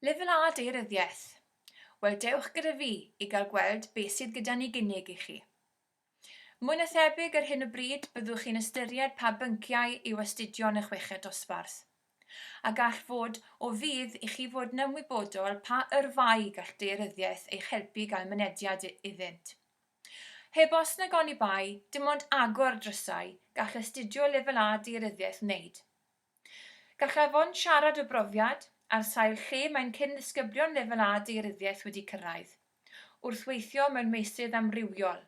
Lefel A Daearyddiaeth Wel, dewch gyda fi i gael gweld beth sydd gyda ni gynnig i chi. Mwy na thebyg ar hyn o bryd byddwch chi'n ystyried pa bynciau i'w astudio yn y chweched dosbarth. A gall fod o fudd i chi fod yn ymwybodol pa yrfa'i gall daearyddiaeth eich helpu i gael mynediad iddynt. Heb os nag oni bai, dim ond agor drysau, gall astudio Lefel A Daearyddiaeth wneud. Gall Afon siarad o brofiad ar sail lle mae'n cyn-ddisgyblion Lefel A Daearyddiaeth wedi cyrraedd, wrth weithio mewn meysydd amrywiol,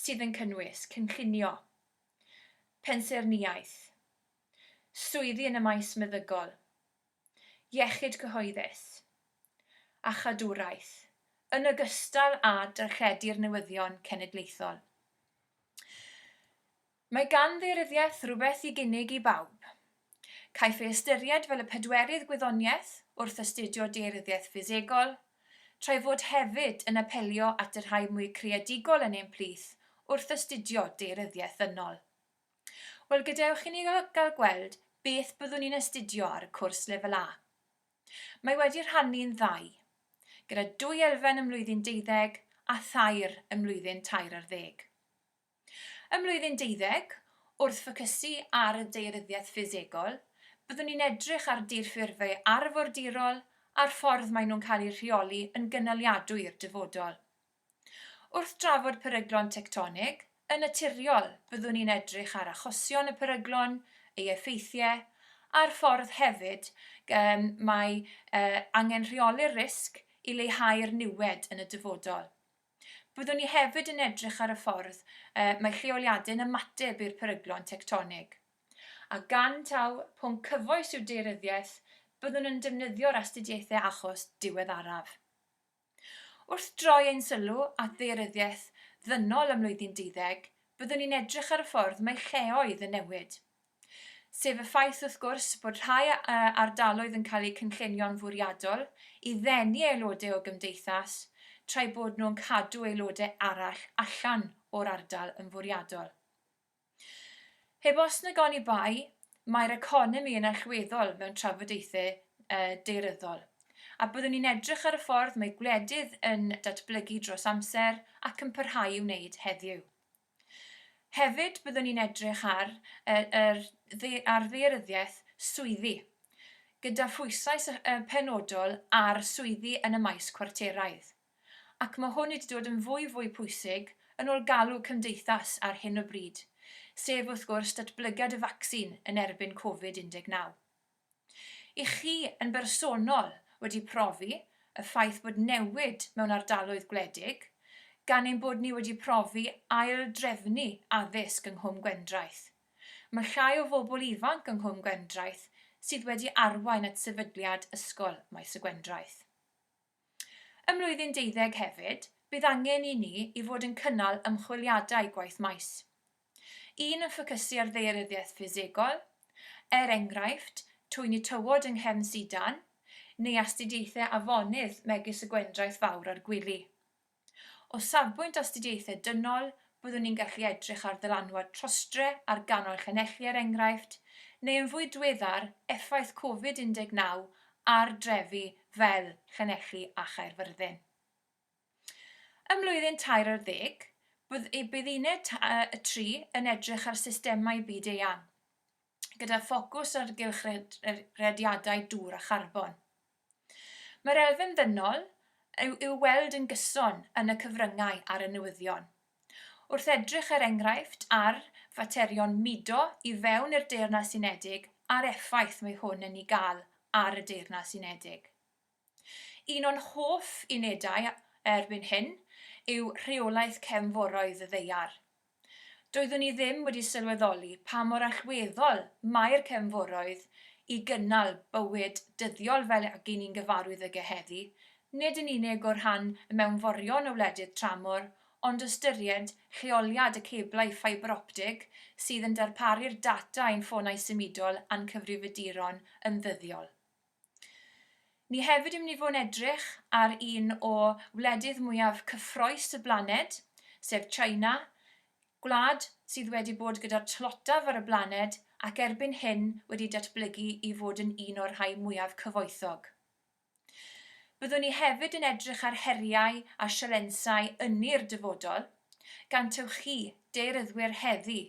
sydd yn cynnwys, cynllunio, pensaernïaeth, swyddi yn y maes meddygol, iechyd cyhoeddus, a chadwraeth, yn ogystal â darlledu'r newyddion cenedlaethol. Mae gan ddaearyddiaeth rywbeth i gynnig i bawb. Caiff ei ystyried fel y pedwerydd gwyddoniaeth wrth astudio daearyddiaeth ffisegol, tra'i fod hefyd yn apelio at y rhai mwy creadigol yn ein plith wrth astudio daearyddiaeth ddynol. Wel, gadewch i ni gael gweld beth byddwn ni'n astudio ar y cwrs Lefel A. Mae wedi rhannu'n ddau, gyda dwy elfen ym mlwyddyn deuddeg a thair ym mlwyddyn tair ar ddeg. Ym Mlwyddyn Deuddeg, wrth ffocysu ar y daearyddiaeth ffisegol, byddwn ni'n edrych ar dirffurfau arfordirol a'r ffordd maen nhw'n cael eu rheoli yn gynaliadwy i'r dyfodol. Wrth drafod peryglon tectonig, yn naturiol, byddwn ni'n edrych ar achosion y peryglon, ei effeithiau, a'r ffordd hefyd y mae angen rheoli'r risg i leihau'r niwed yn y dyfodol. Byddwn ni hefyd yn edrych ar y ffordd y mae lleoliadau'n ymateb i'r peryglon tectonig. A gan taw pwnc cyfoes yw daearyddiaeth, byddwn yn defnyddio'r astudiaethau achos diweddaraf. Wrth droi ein sylw at ddaearyddiaeth ddynol ym mlwyddyn deuddeg, byddwn ni'n edrych ar y ffordd mae lleoedd yn newid. sef y ffaith wrth gwrs bod rhai ardaloedd yn cael eu cynllunio'n fwriadol i ddenu aelodau o gymdeithas tra'i bod nhw'n cadw aelodau arall allan o'r ardal yn fwriadol. Heb os nag oni bai, mae'r economi yn allweddol mewn trafodaethau daearyddol, a byddwn ni'n edrych ar y ffordd mae gwledydd yn datblygu dros amser ac yn parhau i wneud heddiw. Hefyd byddwn ni'n edrych ar yr ar ddaearyddiaeth swyddi, gyda phwysau penodol ar swyddi yn y maes cwarteraidd. Ac mae hwn wedi dod yn fwy fwy pwysig yn ôl galw cymdeithas ar hyn o bryd, sef wrth gwrs datblygiad y faccsin yn erbyn Covid 19. Ych chi yn bersonol wedi profi y ffaith bod newid mewn ardaloedd gwledig, gan ein bod ni wedi profi ail-drefnu addysg yng Nghwm Gwendraeth? Mae llai o fobl ifanc yng Nghwm Gwendraeth sydd wedi arwain at sefydliad Ysgol Maes y Gwendraeth. Ym mlwyddyn deuddeg hefyd, bydd angen i ni i fod yn cynnal ymchwiliadau gwaith maes. Un yn ffocysu ar ddaearyddiaeth ffisegol, er enghraifft, twyni tywod yng nghefn sidan, neu astudiaethau afonydd megis y Gwendraeth Fawr a'r Gwili. O safbwynt astudiaethau dynol, byddwn ni'n gallu edrych ar ddylanwad trostre ar ganol llanelli er enghraifft, neu yn fwy diweddar, effaith Covid 19 ar drefi fel Llanelli a Chaerfyrddin. Ym mlwyddyn tair ar ddeg, bydd y Bydd Uned y tri yn edrych ar systemau byd-eang. gyda ffocws ar gylchredrediadau dŵr a charbon. Mae'r elfen ddynol yw i'w weld yn gyson yn y cyfryngau ar y newyddion. Wrth edrych er enghraifft ar faterion mudo i fewn i'r Deyrnas Unedig a'r effaith mae hwn yn ei gael ar y Deyrnas Unedig. Un o'n hoff unedau erbyn hyn yw rheolaeth cefnforoedd y ddaear. Doeddwn i ddim wedi sylweddoli pa mor allweddol mae'r cefnforoedd i gynnal bywyd dyddiol fel ag y'n ni'n gyfarwydd ag e heddi, nid yn unig o rhan y mewnforion o wledydd tramor, ond ystyried lleoliad y ceblau ffibroptig sydd yn darparu'r data i'n ffonau symudol a'n cyfrifiaduron yn ddyddiol. Ni hefyd yn mynd i fod yn edrych ar un o wledydd mwyaf cyffroes y blaned, sef China, gwlad sydd wedi bod gyda'r tlotaf ar y blaned ac erbyn hyn wedi datblygu i fod yn un o'r rhai mwyaf cyfoethog. Byddwn ni hefyd yn edrych ar heriau a sialensau ynni'r dyfodol, gan taw chi, deiryddwyr heddi,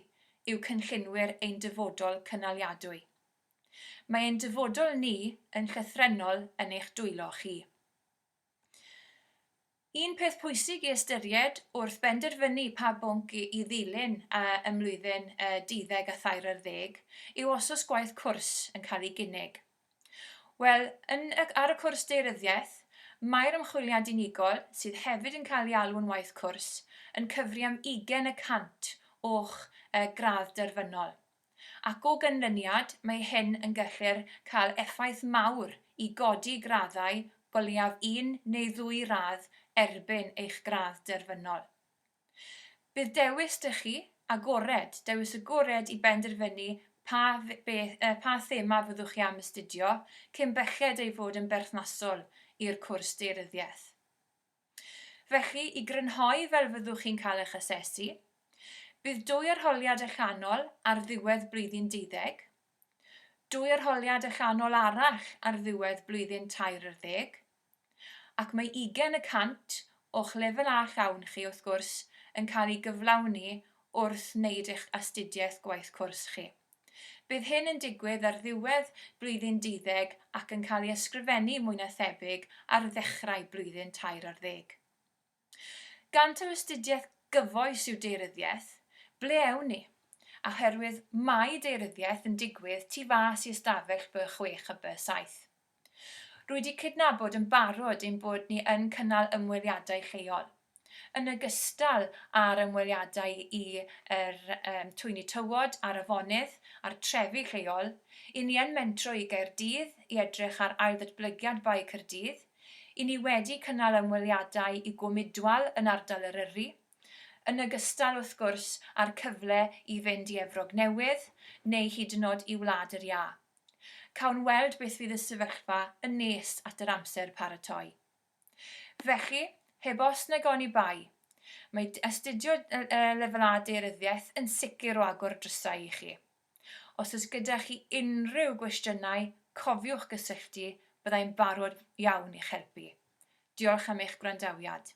yw cynllunwyr ein dyfodol cynaliadwy. Mae ein dyfodol ni yn llythrennol yn eich dwylo chi. Un peth pwysig i ystyried wrth benderfynu pa bwnc i ddilyn ym mlwyddyn y deuddeg a thair ar ddeg yw os oes gwaith cwrs yn cael ei gynnig. Wel, yn y, ar y cwrs Daearyddiaeth, mae'r ymchwiliad unigol, sydd hefyd yn cael ei alw'n waith cwrs, yn cyfri am ugain y cant o'ch gradd derfynol. ac o ganlyniad mae hyn yn gallu'r cael effaith mawr i godi graddau o leiaf un neu ddwy radd erbyn eich gradd derfynol. Bydd dewis dych chi agored, dewis agored i benderfynu pa beth, pa thema fyddwch chi am astudio, cyn belled ei fod yn berthnasol i'r cwrs daearyddiaeth. Felly, i grynhoi fel fyddwch chi'n cael eich asesu, bydd dwy arholiad allanol ar ddiwedd blwyddyn deuddeg, dwy arholiad allanol arall ar ddiwedd blwyddyn tair ar ddeg, ac mae ugain y cant o'ch Lefel A llawn chi, wrth gwrs, yn cael ei gyflawni wrth wneud eich astudiaeth gwaith cwrs chi. Bydd hyn yn digwydd ar ddiwedd blwyddyn duddeg ac yn cael ei ysgrifennu mwy na thebyg ar ddechrau blwyddyn tair ar ddeg. Gan taw astudiaeth gyfoes yw deiryddiaeth, ble ewn ni? Oherwydd mae deiryddiaeth yn digwydd tu fas i ystafell by chwech a by saith. Rwy di cydnabod yn barod ein bod ni yn cynnal ymweliadau lleol, yn ogystal â'r ymweliadau i yr twyni tywod a'r afonydd a'r trefi lleol, i ni yn mentro i Gaerdydd i edrych ar ailddatblygiad Bae Caerdydd, i ni wedi cynnal ymweliadau i Gwm Idwal yn ardal Eryri, yn ogystal wrth gwrs â'r cyfle i fynd i Efrog Newydd neu hyd yn od i Wlad yr Iâ. Cawn weld beth fydd y sefyllfa yn nes at yr amser paratoi. Felly, heb os nag oni bai, mae astudio Lefel A Daearyddiaeth yn sicr o agor drysau i chi. Os oes gyda chi unrhyw gwestiynau, cofiwch gysylltu, byddai'n barod iawn i'ch helpu. Diolch am eich gwrandawiad.